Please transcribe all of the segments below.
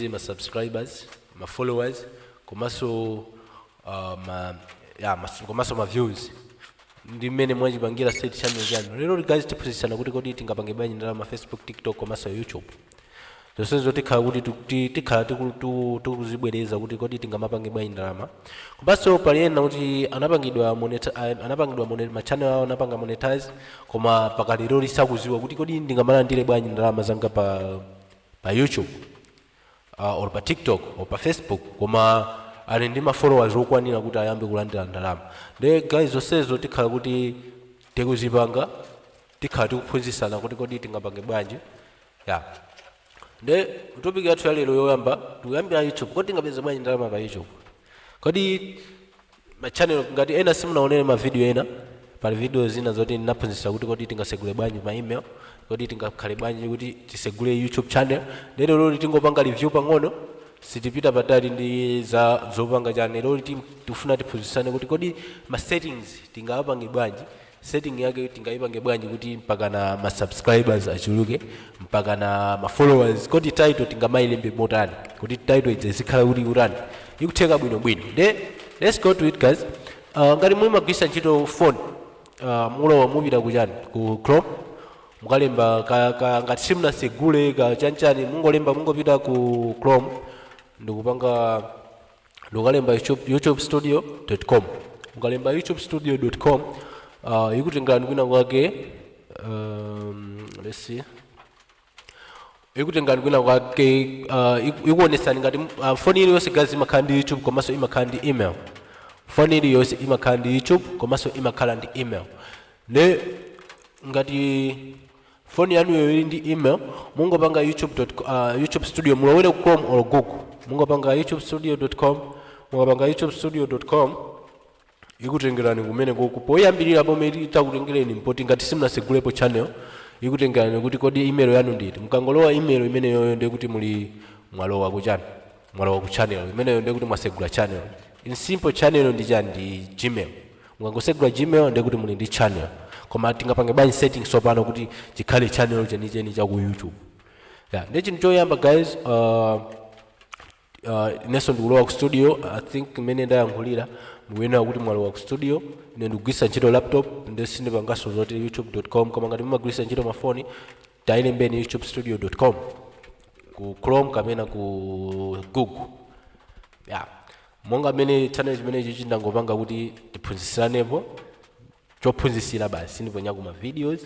zili ma subscribers ma followers komanso uh, ma ya mas- komanso ma views ndi mmene mwayipangira set channel chanu lero guys tiphunzitsana kuti kodi tingapange bwanji ndalama facebook tiktok komanso youtube zonsezo tikhala kuti tu- ti- tikhala tiku- tu- tikuzibwereza kuti kodi tingamapange bwanji ndalama komanso pali ena kuti anapangidwa moneta- a- anapangidwa mone- ma channel awo anapanga monetize koma mpaka lero sakuziwa kuti kodi ndingamalandire bwanji ndalama zanga pa pa YouTube uh, or pa TikTok or pa Facebook koma ali ndi ma followers okwanira kuti ayambe kulandira ndalama nde guys zonsezo tikhala kuti tikuzipanga tikhala tikuphunzitsana kuti kodi tingapange bwanji ya nde topic yathu yalero yoyamba tikuyambira youtube kodi tingapeze bwanji ndalama pa youtube kodi ma channel ngati ena simunaonere ma video ena pali video zina zoti ndinaphunzitsa kuti kodi tingasegule bwanji ma email kodi tingakhale bwanji kuti tisegule youtube channel nde lero lero tingopanga review pang'ono sitipita patali ndi za zopanga channel lero tim- tifuna tiphunzitsane kuti kodi ma settings tingawapange bwanji setting yake tingayipange bwanji kuti mpakana ma subscribers achuluke mpakana ma followers kodi title tingamayilembe motani kodi title izikhala kuti kutani ikutheka bwino bwino nde let's go to it guys uh, ngati mumagwisa ntchito phone uh, mulowa mupita kuchani ku chrome mukalemba ka, ka, ngati simunasegule ka chanchani mungolemba mungopita ku chrome ndikupanga ndikalemba youtube, youtube studio com mukalemba youtube studio com uh, ikutengerani kwina kwake um, let's see ikutengerani kwina kwake uh, iku- ikuonesani ngati uh, foni iliyonse guys imakhala ndi youtube komanso imakhala ndi email foni iliyonse imakhala ndi youtube komanso imakhala ndi email ne ngati phone yanuyo ili ndi email mungopanga youtube dot co- ah, youtube studio mulowera ku chrome or google mungopanga youtube studio dot com mukapanga youtube studio dot com ikutengerani kumene kuku poyambirira pomwe itakutengereni mpoti ngati simunasegulepo channel ikutengerani kuti kodi email yanu nditi mukangolowa email imeneyoyo ndiye kuti muli mwalowa kuchani mwalowa ku channel imeneyo ndiye kuti mwasegula channel in simple channel ndi chani ndi gmail mukangosegula gmail ndiye kuti muli ndi channel koma tingapange bwanji setting tsopano kuti chikhale channel chenicheni cha ku youtube yeah. ndiye chinthu choyamba guys uh, uh, inenso ndikulowa ku studio i think mmene ndayankhulira mukuyenera kuti mwalowa ku studio ine ndikugwiritsa ntchito laptop nde sindipanganso zoti youtube.com koma ngati mumagwiritsa ntchito mafoni tailembeni youtubestudio.com ku chrome kapena ku google ya monga mmene channel chimenechi chomwe ndangopanga kuti tiphunzisiranepo chophunzisira basi ndiponyako ma videos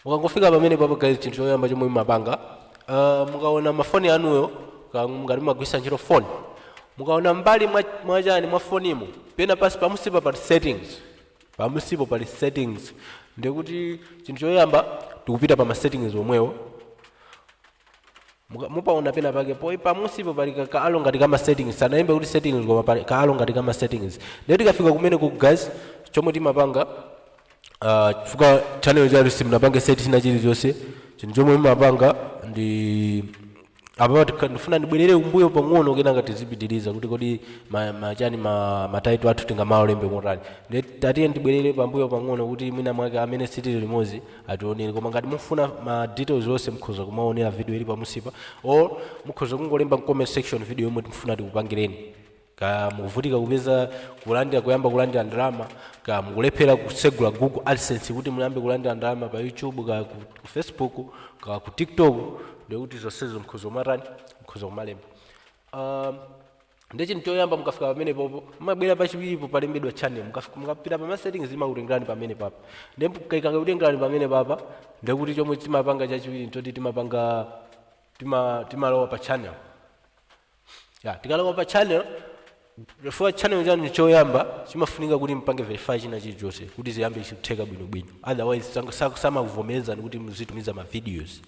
mukangofika pamene papa guys chinthu choyamba chomwe mumapanga uh, mukaona mafoni anuwo ka- ngati mumagwisa ntchito phone mukaona mbali mwa- mwachani mwa fonimo pena pansi pamunsipa pa settings Pamunsipo pali settings ndiye kuti chinthu choyamba tikupita pa ma settings omwewo Muka- mupaona pena pake poi pamunsipo pali ka- kaalo ngati kama settings sanalembe kuti settings koma pali kaalo ngati kama settings ndiye tikafika kumeneku guys chomwe timapanga ah, chifukwa channel chanu simunapange set china chilichonse chinthu chomwe mumapanga ndi apa tikha- ndifuna ndibwerere m'mbuyo pang'ono kenaka tizipitiriza kuti kodi ma- machani ma- ma title athu tingamaalembe motani nde tatiyeni ndibwerere pambuyo pang'ono kuti mwina mwake amene sitili limodzi ationere koma ngati mufuna ma details onse mukhoza kumaonera video ili pamunsipa or mukhoza kungolemba comment section video yomwe mukufuna tikupangireni Kaya mukuvutika kupeza kulandira kuyamba kulandira ndalama, kaya mukulephera kutsegula Google AdSense kuti muyambe kulandira ndalama pa YouTube, kaya ku, ku Facebook, kaya ku TikTok, ndiye kuti zonsezo mukhoza kumatani, mukhoza kumalemba. Um, ndiye chinthu choyamba mukafika pamenepopo mumabwera pachiwiripo palembedwa channel Mukaf- mukapita pa ma settings imakutengerani pamene papa ndiye ikakutengerani pamene papa ndiye kuti chomwe timapanga chachiwiri nchoti timapanga tima- timalowa pa channel ya tikalowa pa channel chifukwa channel chanu choyamba nchimafunika kuti mpange verify china chilichonse kuti ziyambe kutheka bwinobwino otherwise sango- sa- samakuvomerezani kuti muzitumiza ma videos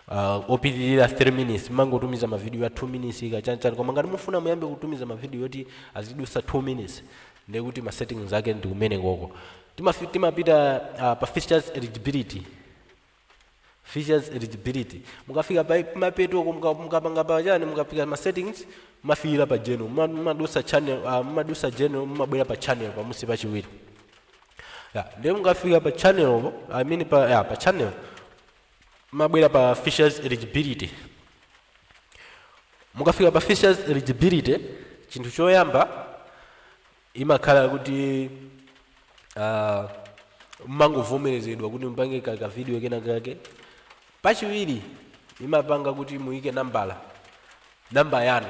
uh, opitirira 3 minutes mangotumiza ma video ya 2 minutes kachanichani koma ngati mufuna muyambe kutumiza ma video yoti azidusa 2 minutes ndekuti ma settings ake ndi kumene koko Timafi- timapita uh, pa features eligibility features eligibility mukafika pa mapetoko muka- mukapanga pa chani mukafika ma settings mmafikira pa general Muma- mumadusa channel ah, mumadusa general mumabwera pa channel pamunsi pachiwiri ya ndiye mukafika pa channel po i mean pa ya pa channel mmabwera pa features eligibility mukafika pa features eligibility chinthu choyamba imakhala kuti uh, mmangovomerezedwa kuti mupange ka ka video kena kake pachiwiri imapanga kuti muyike nambala namba yanu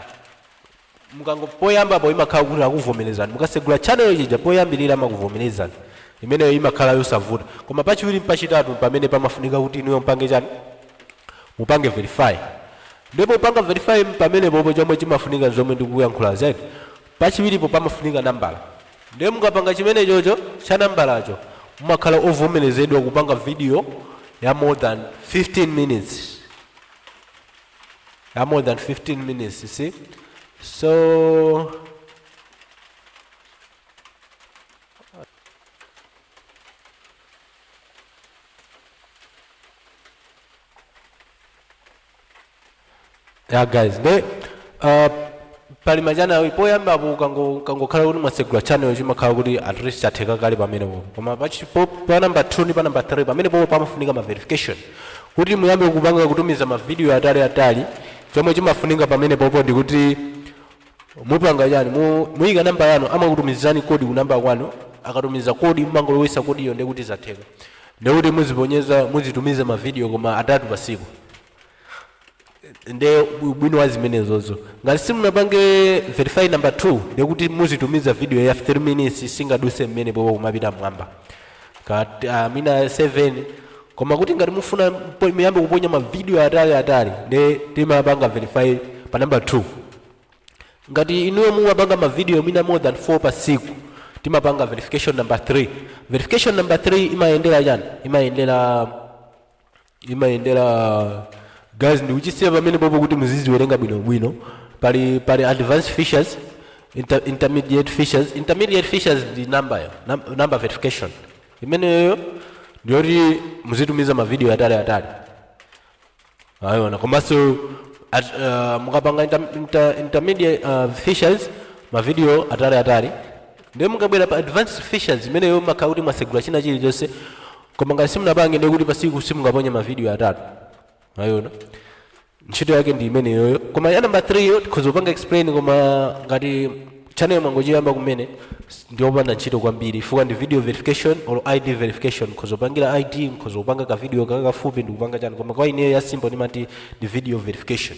mukango poyambapo imakhala kuti akuvomerezani mukasegula channel chija poyambirira amakuvomerezani imeneyo imakhala yosavuta koma pachiwiri ndi pachitatu pamene pamafunika kuti inuyo mpange chani mupange verify ndipo kupanga verify pamene popo chomwe chimafunika zomwe ndikuyankhulazi Pachiwiripo pamafunika nambala ndiye mukapanga chimenechocho cha nambalacho mumakhala ovomerezedwa kupanga video ya more than 15 minutes ya more than 15 minutes you see so ya guys nde uh, pali machanawi poyamba apo kango- kangokhala kuti mwasegula channel chimakhala kuti at least chatheka kale pamenepopo koma pachi- po- pa number 2 ndi pa number 3 pamene popo pamafunika ma verification kuti muyambe kupanga kutumiza ma video atali atali chomwe chimafunika pamene popo ndikuti mupanga chani Mu- muyika namba yanu amakutumizani kodi ku namba kwanu akatumiza kodi mumangolowesa kodiyo ndiye kuti zatheka ndiye kuti muziponyeza muzitumiza mavidiyo koma atatu pasiku nde ubwino wa zimenezozo ngati simunapange verify number 2 ndekuti muzitumiza video ya 3 minutes singaduse mmene popo kumapita mwamba ka uh, mwina 7 koma kuti ngati mufuna mpo- muyambe kuponya mavidiyo atali atali nde timapanga verify pa namba 2 ngati inuyo mumapanga mavidiyo mwina more than 4 pa siku timapanga verification number 3 verification number 3 imayendera chani imayendera imayendera guys ndikuchisiya pamene popo kuti muziziwerenga bwinobwino pali pali advanced features inter, intermediate features intermediate features ndi number yo num, number verification imeneyo ndiyoti muzitumiza mavidiyo atali atali mwaona komanso at, uh, mukapanga inter, inter, intermediate uh, features mavidiyo atali atali ndiye mukabwera pa advanced features imeneyo makhala kuti mwasegula china chilichonse koma ngati simunapange ndiye kuti pasiku simungaponye mavidiyo atatu mwaona ntchito yake ndi imeneyoyo koma ya namba 3 yo tikhoza kupanga explain koma ngati channel mwangochiyamba kumene ndiyopanda ntchito kwambiri chifukwa ndi video verification or id verification mkhoza kupangira id mkhoza kupanga ka video kakakafupi ndikupanga chani koma kwa ineyo ya simple ndimati ndi video verification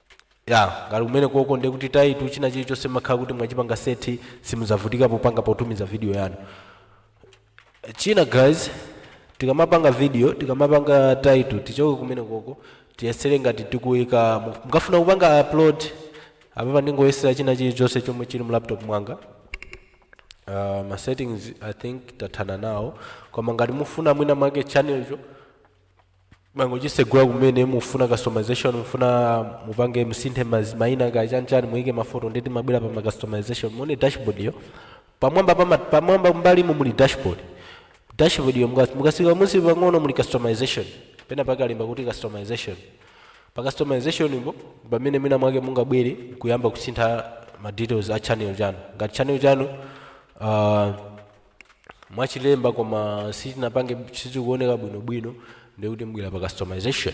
Yeah, ngati kumenekoko ndiye kuti title china chilichonse makhala kuti mwachipanga seti simudzavutika popanga potumiza video yanu china guys tikamapanga video tikamapanga title tichoke kumene koko tiyesere ngati tikuyika mu- mukafuna kupanga upload apapa ndingoyesera china chilichonse chomwe chili mu laptop mwanga uh, ma settings i think tathana nawo koma ngati mufuna mwina mwake channelcho mwangochisegula kumene mufuna customization mufuna mupange musinthe mazi- maina ka chanchani muike mafoto ndekuti mubwera pa ma customization muone dashboard yo pamwamba pama, pamwamba mbalimo muli dashboard dashboard yo muka- mukasika munsi pang'ono muli customization pena pakalemba kuti customization pa customization po pamene mwina mwake mungabwere kuyamba kusintha ma details a channel chanu ngati channel chanu uh, mwachilemba koma sitinapange sizikuoneka bwinobwino ndikuti mubwera pa customization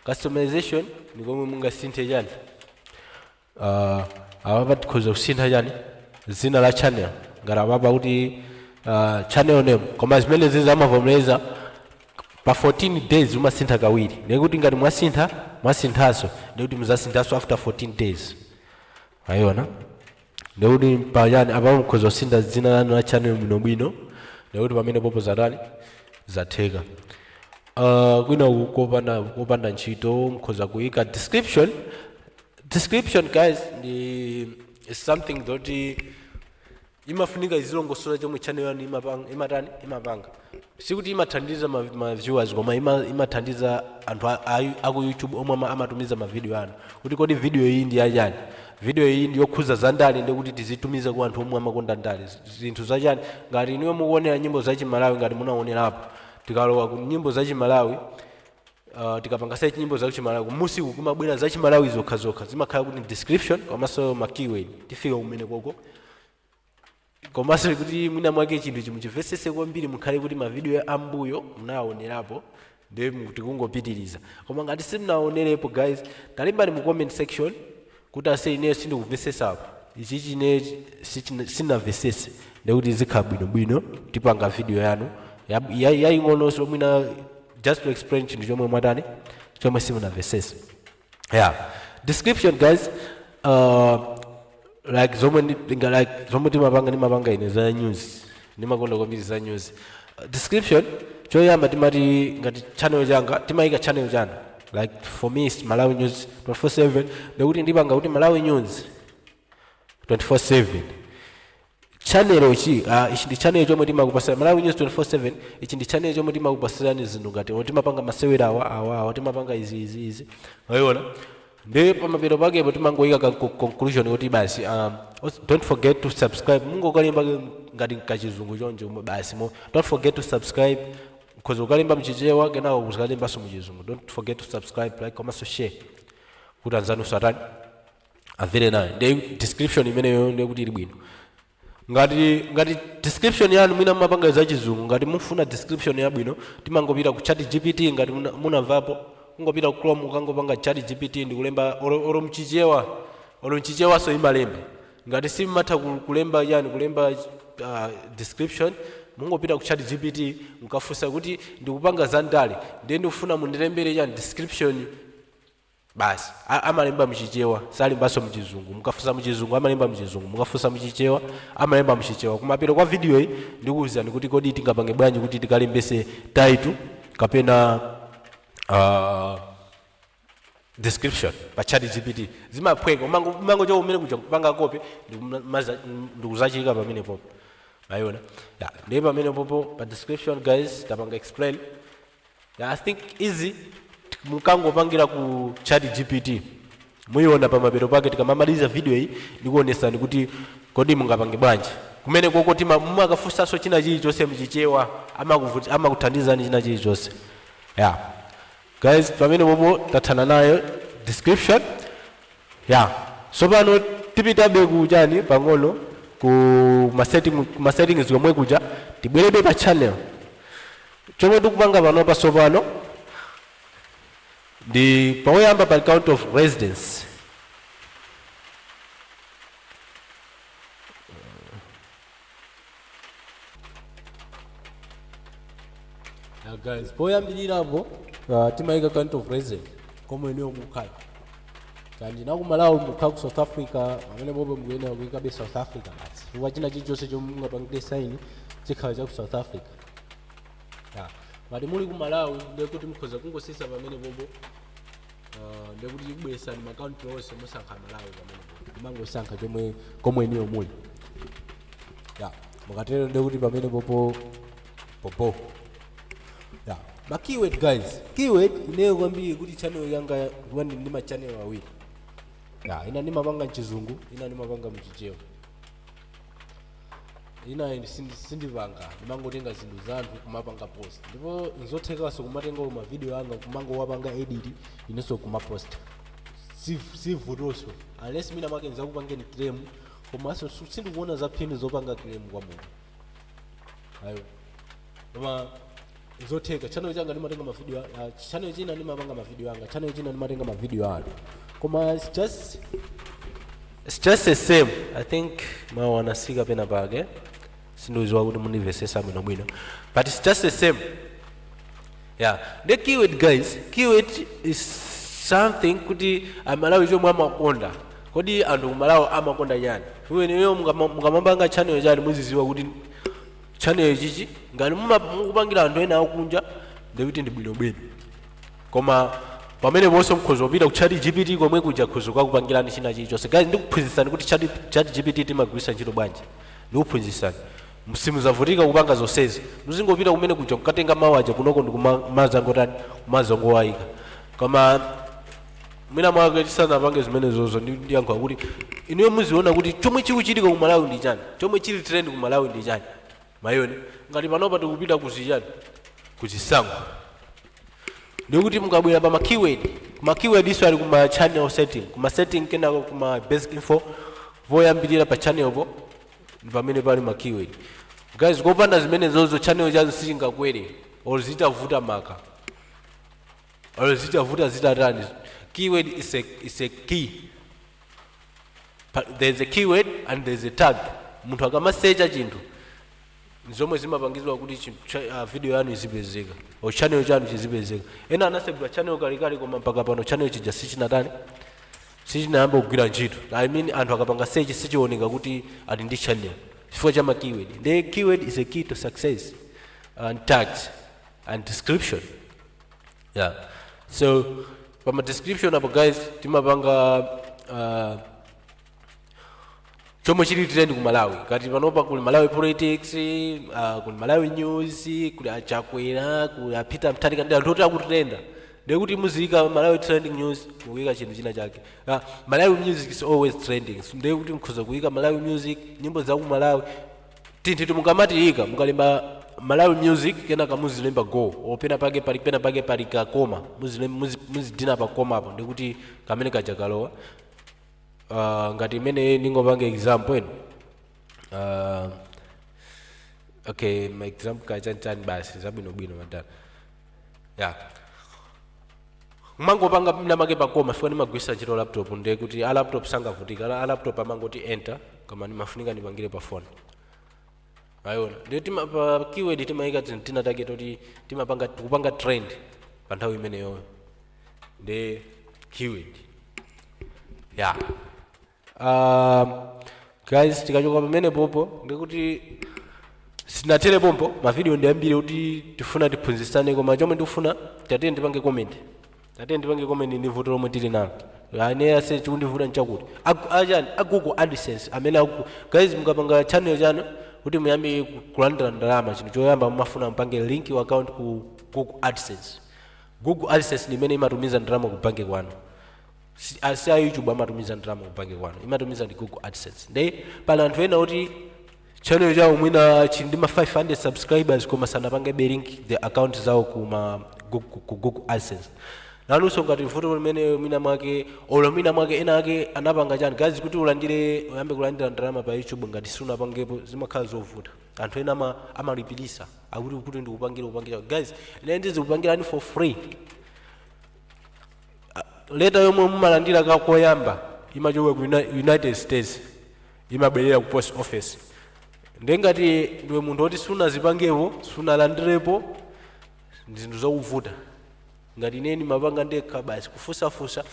customization ndi komwe mungasinthe chani uh, apapa tikhoza kusintha chani dzina la channel ngati apapa kuti uh, channel name koma zimenezizi amavomereza pa 14 days umasintha kawiri ndikuti ngati mwasintha mwasinthanso ndikuti muzasinthanso after 14 days mwayiona ndikuti pachani apa mukhoza kusintha dzina lanu la channel bwinobwino ndikuti pamene popo zatani zatheka uh, kwina ku- kopanda, kopanda ntchito mukhoza kuyika description description guys ndi is something yoti imafunika izilongosola chomwe channel yanu imapanga imatani imapanga sikuti imathandiza ma, ma viewers koma ima, imathandiza anthu a- a- aku youtube omwe ama- amatumiza mavidiyo anu kuti kodi vidiyo iyi ndi yachani vidiyo iyi ndi yokhuza za ndale ndi kuti tizitumize ku anthu omwe amakonda ndale Z- zinthu zachani ngati inuyo mukuonera nyimbo za chimalawi ngati munaonerapo tikalowa ku nyimbo za chimalawi uh, tikapanga search nyimbo za chimalawi kumusi uku kumabwera za chimalawi zokha zokha zimakhala kuti description komanso ma keyword tifika kumene koko komanso kuti mwina mwake chinthu muchimvesese kwambiri mukhale kuti mavidiyo ambuyo munawaonerapo ndiye mu- tikungopitiriza koma ngati simunaonerepo guys talembani mu comment section kuti ase ineyo sindikuvesesapo ichichi ine sichina- sinavesese ndekuti zikhala bwinobwino tipanga vidiyo yanu ya- ya- yaying'ononso mwina just to explain chinthu chomwe mwatani chomwe simunavesese yeah description guys uh, like zomwe ndi- ndinga- like zomwe timapanga ndimapanga ine za news ndimakonda kwambiri za news uh, description choyamba timati ngati channel changa timayika channel chanu like for me it's malawi news 24/7 ndikuti ndipanga kuti malawi news 24/7 Channel chi ah, ichi ndi channel chomwe timakupasira Malawi News 24/7 ichi ndi channel chomwe timakupasirani zinthu ngati oh, timapanga masewera awa awa awa timapanga izi izi izi mwayiona ndi pamapeto pakepo timangoyika ka co- conclusion kuti basi um, os- don't forget to subscribe mungokalemba ngati kachizungu choncho mo- basi mo don't forget to subscribe because ukalemba mchichewa kenako uzikalembanso mchizungu don't forget to subscribe like komanso share kuti anzanu atani avele nayo ndi description imeneyo ndiye kuti ili bwino ngati ngati description yanu mwina mumapanga za chizungu ngati mufuna description yabwino timangopita ku chat gpt ngati muna- munamvapo kungopita ku chrome ukangopanga chat gpt ndikulemba oro oro mchichewa oro mchichewaso imalemba ngati simatha ku- kulemba yani kulemba uh, description mungopita ku chat gpt mukafunsa kuti ndikupanga za ndale ndiye ndikufuna mundilembere yani description basi. A, amalemba mchichewa, amalembanso mchizungu. Mukafunsa mchizungu amalemba mchizungu, mukafunsa mchichewa amalemba mchichewa. Kumapeto kwa video yi ndikuwuzani kuti kodi tingapange bwanji kuti tikalembese title kapena uh, description pa chat gpt zimaphweka umango umango cho umene kuja kupanga copy ndikuzachika pamene popo mwaona yeah. ndiye pamene popo pa description guys tapanga explain Yeah, I think easy mukangopangira ku chat GPT muyiona pamapeto pake tikamamaliza video iyi ndikuonesani kuti kodi mungapange bwanji kumene koko tima mumakafunsanso china chilichonse mchichewa amakuvuti- amakuthandizani china chilichonse yeah guys pamene popo tathana nayo description ya so pano tipitabe kuchani pang'ono ku masetting masettings komwe kuja tibwererebe pa channel Chomwe tikupanga panopa tsopano ndi poyamba pali country of residence. Now guys, poyambirirapo uh, timayika country of residence komwe inuyo mukhala kaya ndinu akumalawi mukhala ku south africa pamene popo mukuyenera kuyikabe south africa basi chifukwa china chilichonse chomwe mungapangire sign chikhala cha ku south africa ya ngati muli ku malawi ndiye kuti mukhoza kungotsitsa pamene popo uh, ndiye kuti ikubweresani ma country onse musankha malawi pamene popo mumangosankha chomwe komwe inuyo muli ya mukatero ndiye kuti pamene popo popo ya ma keyword guys keyword ineyo kwambiri kuti channel yanga ndili ndi ma channel awiri ya ina ndimapanga mchizungu ina ndimapanga mchichewa inayi ndi- sindi- sindipanga ndimangotenga zinthu za anthu kumapanga post ndipo nzothekanso kumatenga ma video anga kumangowapanga edit inunso kumaposta Siv- sivutoso unless mwina mwake nizakupangeni claim komanso su- sindikuona za phindu zopanga claim kwa munthu ayo koma zotheka channel changa ndimatenga mavideo a- a- channel china ndimapanga mavideo anga channel china ndimatenga mavideo anu koma it's just it's just the same i think mawu anatsika pena pake sindiuziwa kuti mundimvesesa bwino bwino but it's just the same yeah the keyword guys keyword is something kuti aMalawi chomwe amakonda kodi anthu kumalawi amakonda chani iweneyo mukamapanga channel chani muziziwa kuti channel chichi ngati muma- mukupangira anthu ena akunja ndikuti ndi bwinobwino koma pamene ponse mkhoza kupita ku chat gpt komwe kuja khoza kukupangirani china chilichonse guys ndikuphunzitsani kuti chat, chat gpt timagwiritsa ntchito bwanji ndikuphunzitsani simuzavutika kupanga zonsezi muzingopita kumene kuja mukatenga mawu aja kunoko ndikumazangotani kumazangowayika koma mwina mwake tisanapange zimenezozo ndi- ndiyankha kuti inuyo muziona kuti chomwe chikuchitika ku malawi ndi chani chomwe chili trend ku malawi ndi chani mwaona ngati panopa tikupita kuzichani kuzisankho ndekuti mukabwera pa makeyword makeyword iso ali kuma channel setting kuma setting kenako kuma basic info voyambirira pa channelpo ndi pamene pali makeyword guys kopanda zimenezozo channel chanu sichingakwere or zitavuta maka olo zitavuta zitatani keyword is a, is a key Pa- there is a keyword and there is a tag munthu akamasecha chinthu zomwe zimapangizwa kuti chi- cha- ah, video yanu izipezeka or channel chanu chizipezeka ena anasegula channel kalekale koma mpaka pano channel chija sichinatani sichinayamba kugwira ntchito i mean anthu akapanga search sichioneka kuti ali ndi channel chifukwa cha ma keyword the keyword is a key to success and tags and description yeah so pama description apo guys timapanga uh, chomwe chili trend ku malawi ngati panopa kuli malawi politics uh, kuli malawi news kuli a Chakwera kuli a Peter Mtharika ndi anthu oti akutrenda ndekuti muziyika malawi trending news mukuyika chinthu china chake uh, malawi music is always trending ndekuti mukhoza kuyika malawi music nyimbo za ku malawi tinthu timukamatiika mukalemba malawi music kenaka muzilemba go or pena pake pali pena pake pali ka comma muzilem- muzi- muzidina pa comma po ndikuti kamene kaja kalowa uh, ngati imene ndingopanga example ena uh, okay ma example kachanichani basi zabwinobwino madala ya kumangopanga mwinamwake pa comma chifukwa ndimagwisa ntchito laptop nde kuti a laptop sangavutika Ala- a laptop amangoti enter koma ndimafunika ndipangire pa phone mwaiona nde tima pa keyword timayika tin- tinatake toti timapanga tikupanga trend pa nthawi imeneyoyo nde keyword ya Ah, guys tikachoka pamene popo ndikuti sinathere pompo mavidiyo ndi ambiri oti tifuna tiphunzitsane koma chomwe ndikufuna tatiye ndipange comment tatiye ndipange comment ndi vuto lomwe tili nalo ane ase chikundivuta nchakuti Agu- achina google adsense amene aku guys mukapanga channel chanu kuti muyambe ku- kulandira ndalama chinthu choyamba mumafuna mupange link account ku google adsense google adsense ndi imene imatumiza ndalama ku banki kwanu Si- a- si a youtube amatumiza ndalama ku banki kwanu imatumiza ndi google adsense nde pali anthu ena oti channel chawo mwina chili ndi ma 500 subscribers koma sanapange be link ma account zawo ku ma Gu- ku ku google adsense nanunso ngati muli ndi vuto limeneli mwina mwake olo mwina mwake ena ake anapanga chani guys kuti ulandire uyambe kulandira ndalama pa youtube ngati sunapangepo zimakhala zovuta anthu ena ama- amalipirisa akuti kuti ndikupangire kupangire guys ine ndizikupangirani for free leta yomwe mumalandira ka koyamba imachoka ku Uni- united states imabwera ku post office nde ngati ndiwe munthu woti sunazipangepo sunalandirepo ndi zinthu zokuvuta ngati ine ndimapanga ndekha basi kufunsafunsa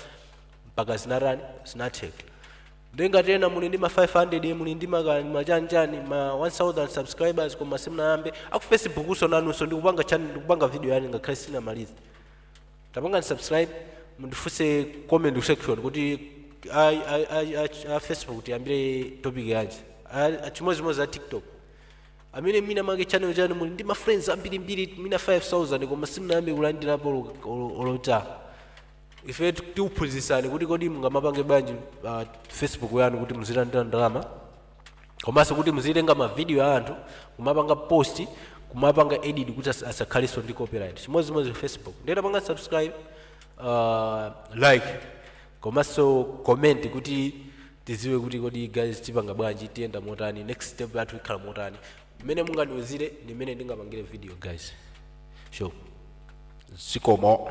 mpaka zinatani zinatheka nde ngati ena muli ndi ma 500 muli ndi maka- ma chani ma 1000 subscribers koma simunayambe aku facebookso nanunso ndikupanga channel ndikupanga video yanu ngakhale sinamalize tapangani subscribe mundifunse comment section kuti a, a, a, a, a facebook tiyambire topic yanji A- a- chimodzimodzi a tiktok amene mwina mwake channel chanu muli ndi ma friends ambirimbiri mwina 5000 koma simunayambe kulandirapo olo- olo- olo 1 tambala ife tikuphunzitsani kuti kodi mungamapange bwanji uh, facebook yanu kuti muzilandira ndalama komanso kuti muzitenga mavidiyo a anthu kumapanga post kumapanga edit kuti asa- asakhalenso ndi copyright chimodzimodzi facebook nde tapangani subscribe uh, like komanso comment kuti tiziwe kuti kodi guys tipanga bwanji tiyenda motani next step yathu ikhala motani mmene mungandiuzire ndi mmene ndingapangire video guys sure zikomo